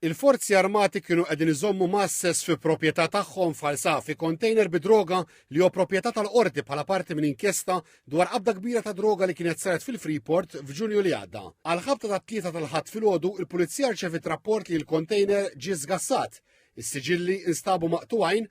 Il-Forzi Armati kienu qegħdin iżommu Masses fi proprjetà tagħhom f'Ħal-Saf fi kontejner bi droga li hu proprjetà tal-Qorti bħala parti minn inkjesta dwar qabda kbira ta' droga li kienet saret fil-Freeport f'Ġunju li għadda. Għall-ħabta tat-Tlieta tal-Ħadd filgħodu, il-Pulizija rċeviet rapport li l-kontejner ġie żgassat, is-siġilli instabu maqtugħin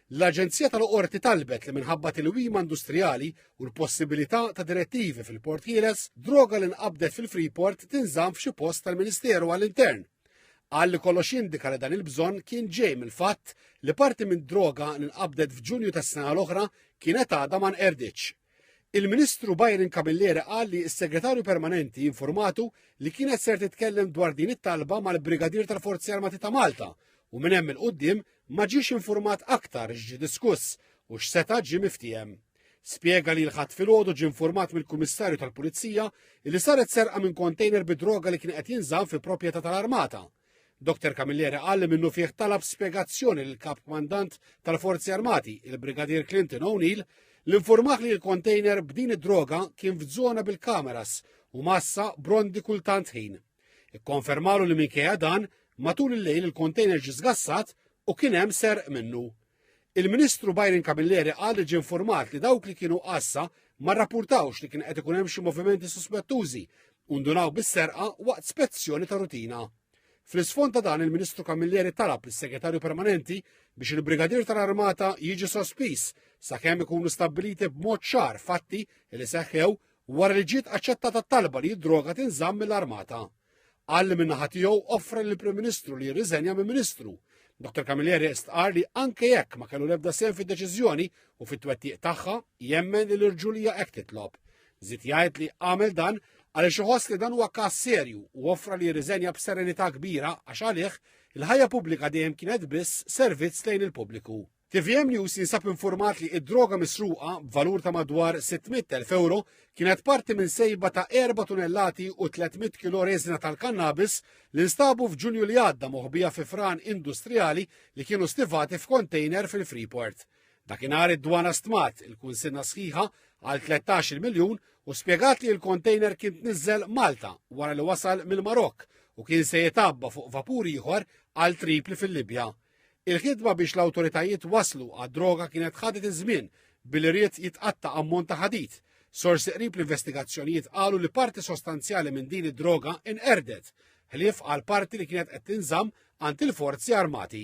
L-Aġenzija tal-Qorti talbet li minħabba tilwima industrijali u l-possibilità ta' direttivi fil-Port Ħieles, droga li nqabdet fil-Freeport tinżamm f'xi post tal-Ministeru għall-Intern. Qal li kollox jindika li dan il-bżonn kien ġej mill-fatt li parti minn droga li nqabdet f'Ġunju tas-sena l-oħra kienet għadha ma nqerditx. Il-Ministru Byron Camilleri qal li s-Segretarju Permanenti informatu li kienet ser titkellem dwar din it-talba mal-Brigadier tal-Forzi Armati ta' Malta u minn hemm il-qudiem ma ġiex informat aktar x'ġie diskuss u x'seta' ġie miftiehem. Spjega li l-Ħadd filgħodu ġie informat mill-Kummissarju tal-Pulizija li saret serqa minn kontejner bid-droga li kien qed jinżamm fi proprjetà tal-Armata. Dr Camilleri qal li minnufih talab spjegazzjoni lill kap kmandant tal-Forzi Armati, il-Brigadier Clinton O'Neill, l-informaħ li l-kontejner b'din id-droga kien f'żona bil-kameras u massa brondi kultant ħin. Ikkonfermalu li minkejja dan, matul il-lejl il-kontejner ġi żgassat u kien hemm serq minnu. Il-Ministru Byron Camilleri qal li ġie informat li dawk li kienu għassa ma rrapportawx li kien qed ikun hemm xi movimenti suspettużi u ndunaw bis-serqa waqt spezzjoni ta' rutina. Fl-isfond ta' dan il-Ministru Camilleri talab lis-Segretarju Permanenti biex il-Brigadier tal-Armata jiġi sospiż sakemm ikunu stabbiliti b'mod ċar fatti li seħħew wara li ġiet aċċettata t-talba li d-droga tinżamm mill-Armata. Qal li min-naħa tiegħu offra lill-Prim Ministru li jirriżenja minn Ministru. Dr Camilleri istqar li anke jekk ma kellu l-ebda sehem fid-deċiżjoni u fit-twettiq tagħha, jemmen li l-irġulija hekk titlob. Żid jgħid li għamel dan għaliex iħoss li dan huwa każ serju u offra li jirriżenja b'serenità kbira għax għalih il-ħajja pubblika dejjem kienet biss servizz lejn il-pubbliku. Tvm News jinsab informat li id-droga misruqa b'valur ta' madwar 600,000 euro kienet parti minn sejba ta' 4 tunellati u 300 kilo reżina tal-kannabis li nstabu f'Ġunju li għadda moħbija fi fran industrijali li kienu stivati f'kontejner fil-Freeport. Dakinhar id-dwana stmat il-kunsinna sħiħa għal 13 miljun u spjegat li l-kontejner kien tniżżel Malta wara li wasal mill-Marokk u kien se jitabba fuq vapur ieħor għal Tripli fil-Libja. Il-ħidma biex l-awtoritajiet waslu għad-droga kienet ħadet iż-żmien billi ried jitqatta' ammont ta' ħadid. Sorsi qrib l-investigazzjonijiet qalu li parti sostanzjali minn din id-droga inqerdet, ħlief għal parti li kienet qed tinżamm għand il-forzi armati.